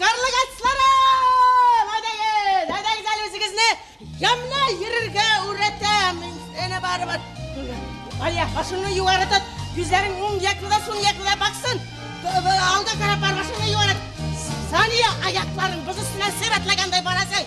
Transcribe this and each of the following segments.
Карлыгачларым! Әйдәгез, әйдәгез әле үзегезне ямьле йөрергә үрәтәм. Әнә барыбер. Алия, башыңны югары тот. Күзләрең уң якында, сул якында баксын. Алда карап бар, башыңны югары. Сания, аякларың боз өстенә сер атлагандай барасың.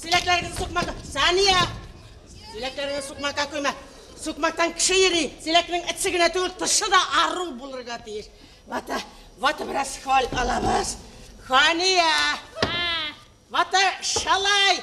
Силәкләрегезне сукмакка. Сания! Силәкләрегезне сукмакка койма. Сукмактан кеше йөри. Силәкнең эче генә түгел, тышы да ару булырга тиеш. Вата, вата бераз хәл алабыз. Хания! Вата шалай!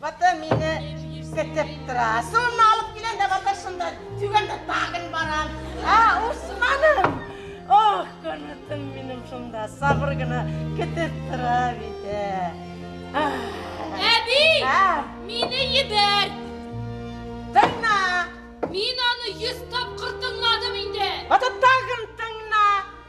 Бата мине көтеп тора. Сонны алып киләм дә бата шунда түгәндә тагын барам. А, Усманым! Ох, көнетем минем шунда сабыр гына көтеп тора бит. Әби! Мине ебәр! Тыңна! Мин аны йөз тапкыр тыңладым инде. Бата тагын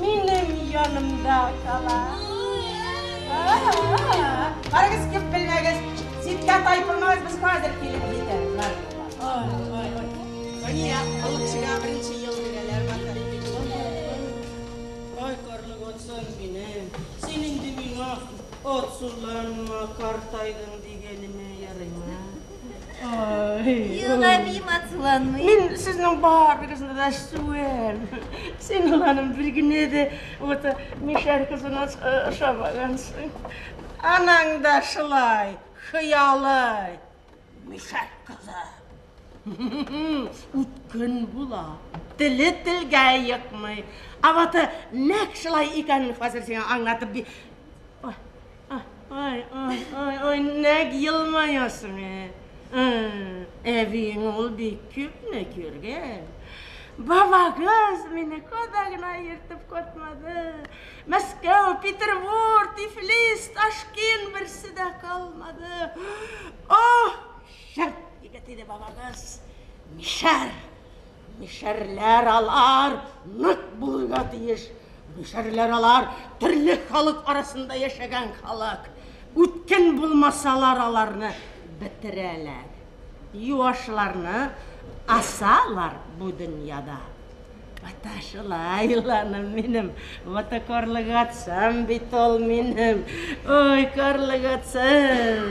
Минем янымда кала. Карагыз, күп белмәгез, ситкә тайпылмагыз, без хәзер килеп җитәбез. Мания, алучыга беренче ел бирәләр бата. Ай, карлык отсын минем. Син инде миңа от суларыңа картайдың дигәнемә ярыймы? Юлабим ацуланмый. Мин сезнең барыгызны да сүәм. Син уланым бер генә дә вот мишәр кызына ошамагансың. Анаң да шулай, хыялы. Мишәр кызы. Үткен була. Теле телгә йыкмый. Аваты нәк шулай икәнен хәзер сиңа аңлатып Ай, ай, ай, ай, нәг елмаясың, ә? Ә, Әбиең ул бик күпне күргән. Бабагыз мине кода гына ертып катмады. Мәскәү, Петербур, Тифлис, Ташкент берсе дә калмады. Ох, шәп егет иде бабагыз. Мишәр. Мишәрләр алар нык булырга тиеш. Мишәрләр алар төрле халык арасында яшәгән халык. Үткен булмасалар аларны бетерәләр. Юашларны асалар бу дөньяда. Ата шулай иланым минем, ата карлык атсам бит ул минем. Ой, карлык атсам.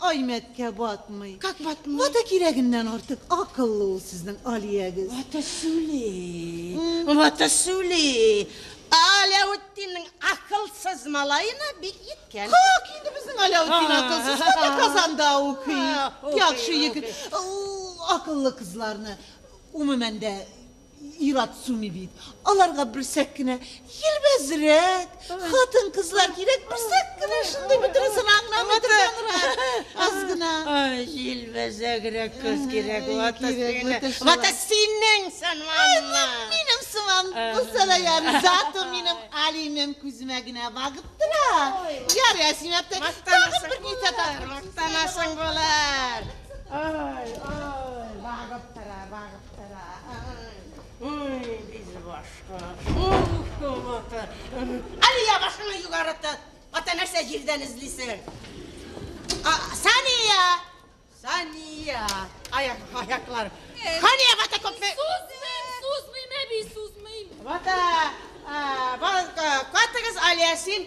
Аймәткә батмый. Как батмый? Вата кирәгеннән артык акыллы ул сезнең Алиягез. Вата сүли. Вата сүли. Аләүетдиннең акылсыз малаена бик йиткән. Как инде безнең Аләүетдин акылсыз? Әнә Казанда укый. Яхшы егет. Ул акыллы кызларны, умумән дә, Ир-ат суми бит. Аларга берсәк кенә елбәзрәк хатын-кызлар кирәк, берсәк кенә шундый бөтенесен аңламый торганрак, аз гына. Җилбәзәгрәк кыз кирәк, вата сине. Вата синең сыманмы? Минем сыман булса да ярый, зато минем Алинем күземә генә багып тора. Ярый, Асим әбтәй, тагын бер низә тапкыр. Мактанасың булыр. Ай, ай, багып тора, багып. Ой, без башка. Әле я башыңа югарыты. Ата нәрсә җирдән эзлисең? Сания! Сания! Аяк, аяклар. Хания бата копме. Сузмыйм, сузмыйм, әби, сузмыйм. Бата, бата, катыгыз Алиясин.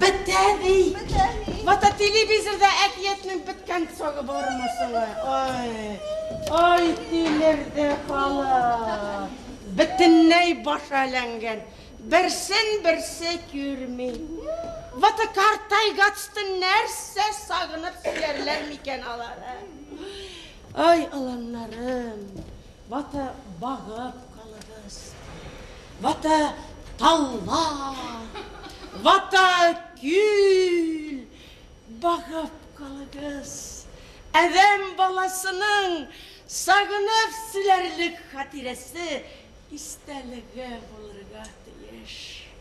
Бетә бит. Мата телевизорда әкиятнең беткән сагы бармы соң? Ай. Ай тилерде халык. Бөтенләй баш әләнгән. Берсен берсе күрми. Вата картайгацты нәрсә сагынып сөярләр микән алар? Ай, аланнарым. Вата багып калыгыз. Вата талла. Вата күл. Багып калыгыз. Әдәм баласының сагынып силәрлек хатирәсе истәлеге булырга тиеш.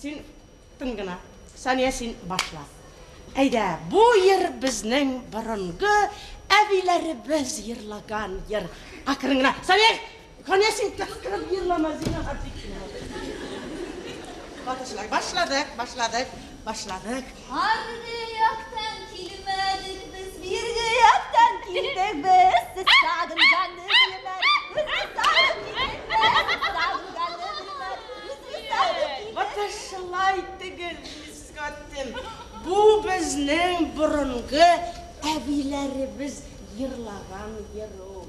Син тын гына. Сания, син башла. Әйдә, бу йыр безнең борынгы әбиләребез йырлаган йыр. Акрын гына. Сания, Сания син кычкырып йырлама, зинһар, бик кирәк. Башладык, башладык. Башладык. Аргы яктан килмәдек без, бирге яктан килдек без. Сез сагынганны белмәдек, үзегез сагынып килдегез. Сагынганны белмәдек, үзегез сагынып килдегез. Вот шулай түгел, Мискотин. Бу безнең борынгы әбиләребез җырлаган җыр ул.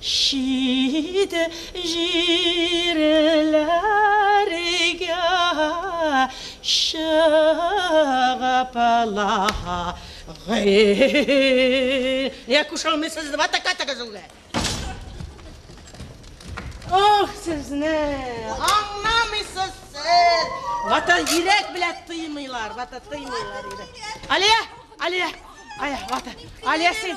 Чит җирләргә чыгып лагерьгә кушылмыйсыз дип атакадыгыз үги. Ох, сезне аңламыйсыз сез. Вата йөрәк белән тыймыйлар, вата тыймыйлар йөрәк. Алия, Алия, Ая, вата. Алия син.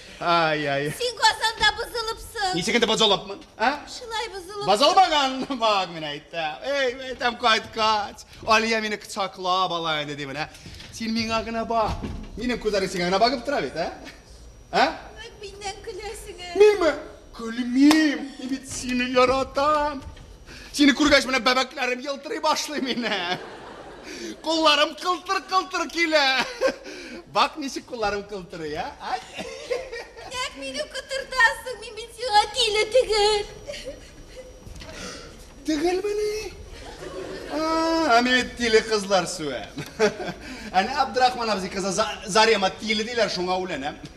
Ай, ай. Син касанда бозылыпсың. Ничек инде бозылыпмын? А? Шулай бозылып. Бозылмаган бак мин әйтәм. Эй, әйтәм кайткач. Алия мине кочаклап ала инде димен, ә? Син миңа гына бак. Минем күзләрем сиңа гына багып тора бит, ә? А? Нык миннән көләсеңә. Минме? Гөлмим, мин бит сине яратам. Сине күргәч менә бәбәкләрем елтырый башлый мине. Кулларым кылтыр-кылтыр килә. Бак ничек кулларым кылтырый, а? Ай. Нәк мине кытыртасың, мин бит сиңа тиле түгел. Түгелмени? А, мин тиле кызлар сүәм. Әнә Абдрахман абзый кызы Зарема тиле диләр, шуңа үләнәм.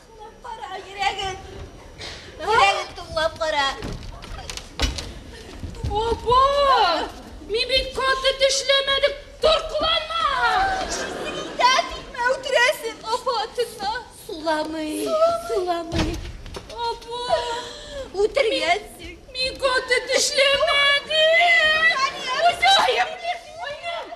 Тыңлап кара, йөрәген. Йөрәген тыңлап кара. Опа! Мин бит каты төшләмәдем. Торкыланма! Исеңдә тикмә үтерәсең, апа тыңла. Суламый, суламый. Опа! Үтергәнсең. Мин каты төшләмәдем. Хуҗаем!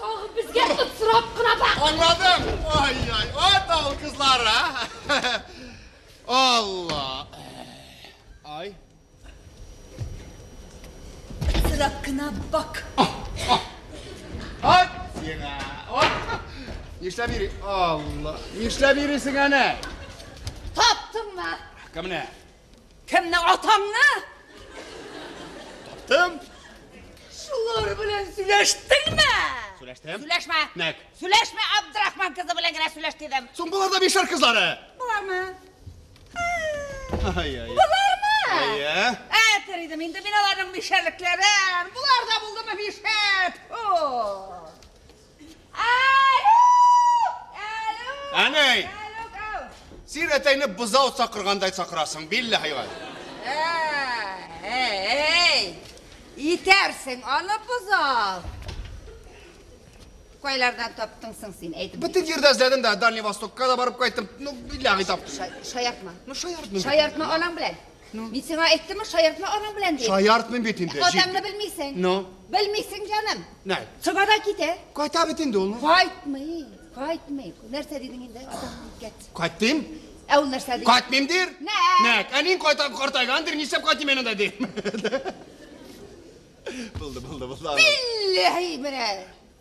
Тагы безгә сорап кына бак. Аңладым. Ай-яй, ат ал кызлар, а? Алла. Ай. Сорап кына бак. Ат сиңа. Нишләп йөри? Алла. Нишләп йөрисең әнә? Таптыңмы? Кемне? Кемне, атаңны? Таптым. Шулар белән сөйләштеңме? Сөйләштем. Сөйләшмә. Нәк. Сөйләшмә, Абдрахман кызы белән генә сөйләш дидем. Соң болар да бишәр кызлары. Болармы? Ай, ай. Болармы? Әйе. Ә, теридем инде мин аларның бишәрлекләрен. Болар да булдымы бишәр? Фу! Әнәй! Син әтәйне бозау сакыргандай сакырасың, билле хайван. Әй! Итәрсең аны бозау. Кайлардан таптың соң син, әйтеп. Бөтен җирдә эзләдем дә, Дальний Востокка да барып кайттым. Ну, билләһи таптым. Шаяртма. Ну, шаяртма. Шаяртма анаң белән. Ну. Мин сиңа әйттемме, шаяртма аның белән дип. Шаяртмыйм бит инде. Ә Атаңны белмисең. Ну. Белмисең, җаным. Нә? Цыгада китә. Кайта бит инде ул. Ну. Кайтмый, кайтмый. Нәрсә дидең инде? Атаңны кит. Кайтыйм. Ә ул нәрсә ди? Кайтмыйм дир. Нә? Нә? Әнин кайта картайган дир, нишләп кайтыйм аны да дир. Булды, булды, булды. Билләһи менә.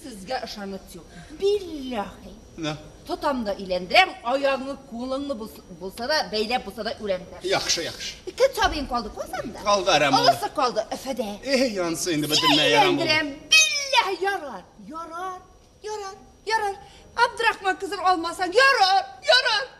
Сезгә ышаныч юк. Билләхи. Нә? Тотам да өйләндерәм, аягыңны, кулыңны булса да бәйләп булса да өйләндерәм. Яхшы, яхшы. Ике сабыем калды, күрсәм дә. Калды, әрәм булды. Алысы калды, Фәдә. Э, янсы инде бөтенләй әрәм булды. Өйләндерәм, билләхи, ярар, ярар, ярар, ярар. Абдрахман кызын алмасаң, ярар, ярар.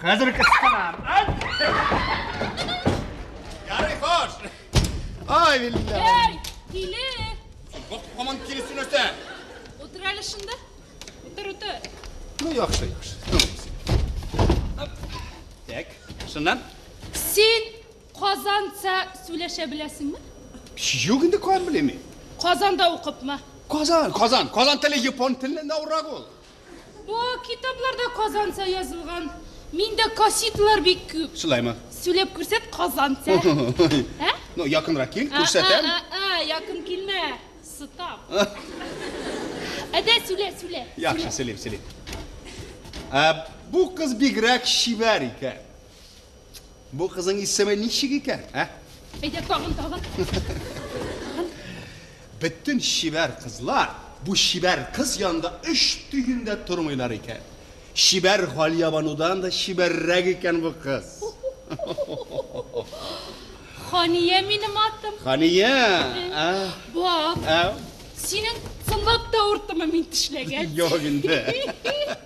Хәзер кыстырам. Ярый, хош. Ай, биллә. Әй, киле. Бак, коман килесен өтә. Утыр әле шунда. Утыр, утыр. Ну, яхшы, яхшы. Так, шуннан. Син Казанца сүләшә беләсеңме? Юк инде куан белеме? Казанда укыпмы? Казан, Казан, Казан теле япон теленнән авыррак ул. Бу китапларда Казанца язылган. Миндә кассеталар бик күп. Шулаймы? Сүләп күрсәт Казанца. Ә? Ну, якынрак кил, күрсәтәм. А-а-а, якын килмә, сытам. Әйдә, сүлә, сүлә. Яхшы, сүлим, сүлим. Бу кыз бигрәк чибәр икән. Бу кызың исеме ничек икән, ә? Әйдә, тагын, тагын. Бөтен чибәр кызлар бу чибәр кыз янында өч төен дә тормыйлар икән. Чибәр Галиябанудан да чибәррәк икән бу кыз. Хания минем атым. Хания. Бак. Синең сынлап та урттымы мин тешләгән? Юк инде.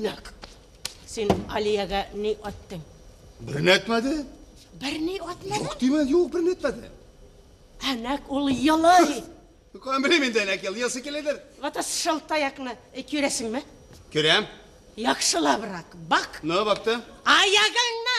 Нәк, син Алиягә ни аттың? Берне әтмәде. Берни атмады? Юк димен, юк, берни әтмәде. Әнәк ул елый. Көн белем инде әнәк ел, елсы киледер. Вата шыл таякны э, күрәсеңме? Күрәм. Яхшылабрак бак. Ну, бакты. Аягыңны!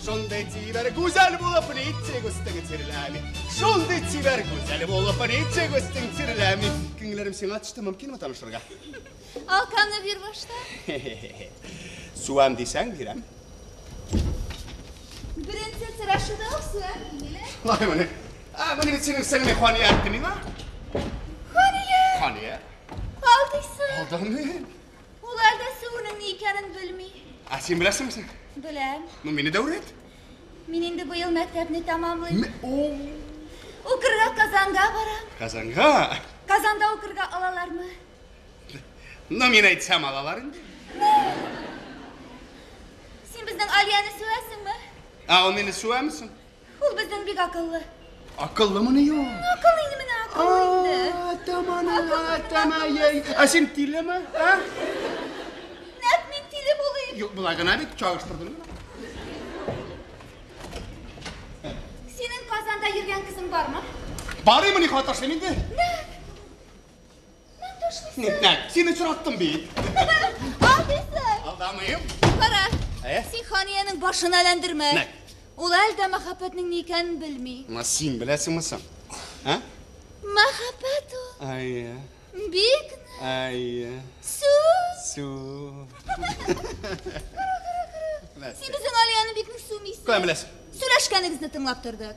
Шундый тибәр гүзәл булып литчек өстең тирләми. Шундый тибәр гүзәл булып литчек өстең тирләми. Күңелләрем сиңа төште, мөмкинме танышырга? Алканы бир башта. Суам дисәң бирәм. Беренче сорашуда ук суам бирелә. Лай моны. А, моны бит синең сеңле Хания әйтте миңа. Хания. Хания. Алдыйсы. Алдамыйм. Ул әлдә сөүнең ни икәнен белми. Ә син беләсеңме син? Беләм. Ну, мине дә үрәт. Мин инде быел мәктәпне тамамлыйм. Укырга Казанга барам. Казанга? Казанда укырга алалармы? Ну, мин әйтсәм алалар инде. Син безнең Алияне сөәсеңме? Ә ул мине сөәмсең? Ул бездән бик акыллы. Акыллымыни ул? Акыллы инде менә, акыллы инде. Атаманың атамай. Ә син тилеме? А? Нәкъ мин тиле булыйм. Юк, болай гына бит чагыштырдым. Синең Казанда йөргән кызың бармы? Барыймыни хаташым инде? Нәкъ Мин төшлесе. Нитләк, сине сораттым бит. Алдыйсың. Алдамыйм. Кара. Ә? Син ханиянең башын әләндермә. Нәк. Ул әле дә мәхәббәтнең ни икәнен белми. Ма син беләсеңме соң? Ә? Мәхәббәт ул. Әйе. Бик. Әйе. Су. Су. Син безнең Алияны бик нык сүмисең. Кая беләсең? Сөйләшкәнегезне тыңлап тордык.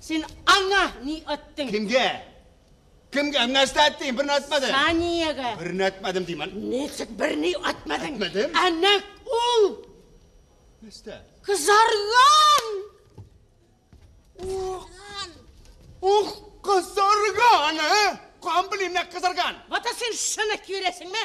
Син аңа ни әттең? Кемгә? Кемгә? Һәм нәрсә әттең? Берни әтмәдем. Саниягә. Берни әтмәдем дим әле. Ничек берни әтмәдең? Әтмәдем. Ә нәк ул. Нәрсә? Кызарган! Ух! Ух, кызарган, ә? Кан белим, нәк кызарган. Вата син шуны киерәсеңме?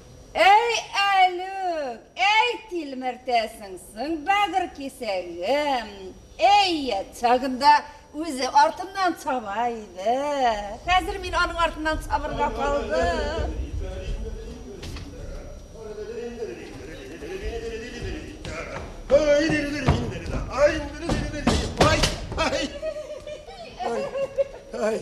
Әй Әлүк, әй тилмертәсең соң бәгырь кисәгем, әй ят чагында үзе артыннан чаба иде, хәзер мин аның артыннан чабырга калдым. Ай!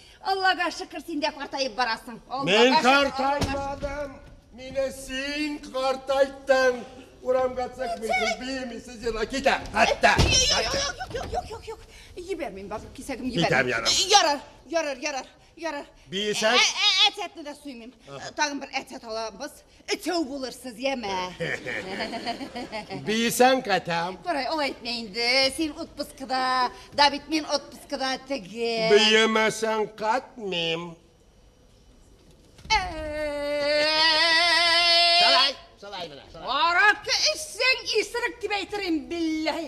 Аллага шөкер, син дә картаеп барасың. Мин картаймадым, мине син картайттың. Урамга чыкмыйсыз, биемисез, җыла китә. Хәтта. Юк, юк, юк, юк. Җибәрмим, базык кисәгем җибәрмим. Китәм, ярар. Ярар, ярар, ярар, ярар. Биесәң? Әтәтне дә суймыйм. Тагын бер әтәт алабыз. Өчәү булырсыз, яме. Бийсәң кәтәм. Курай, ул әйтмә инде. Син отпускыда, да бит мин отпускыда теге. Биемәсәң катмим. Шулай, шулай менә. Аракы эчсәң, исерек дип әйтерим, билләһи.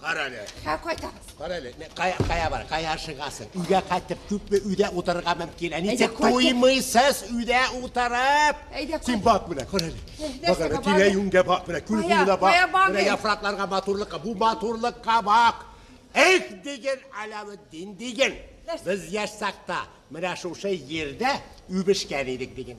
Карале. Ә кайтабыз. Карале, кая кая бар? Кая шыгасың? Үгә кайтып күпме үдә утырырга мөмкин? Әни тек туймыйсыз үдә утырып. Әйдә кайт. Син бак менә, карале. Бак әле тирә юнгә бак менә, күл буена бак. Менә яфракларга матурлыкка, бу матурлыкка бак. Эх диген Аләветдин диген. Без яшь сакта менә шушы җирдә үбешкән идек диген.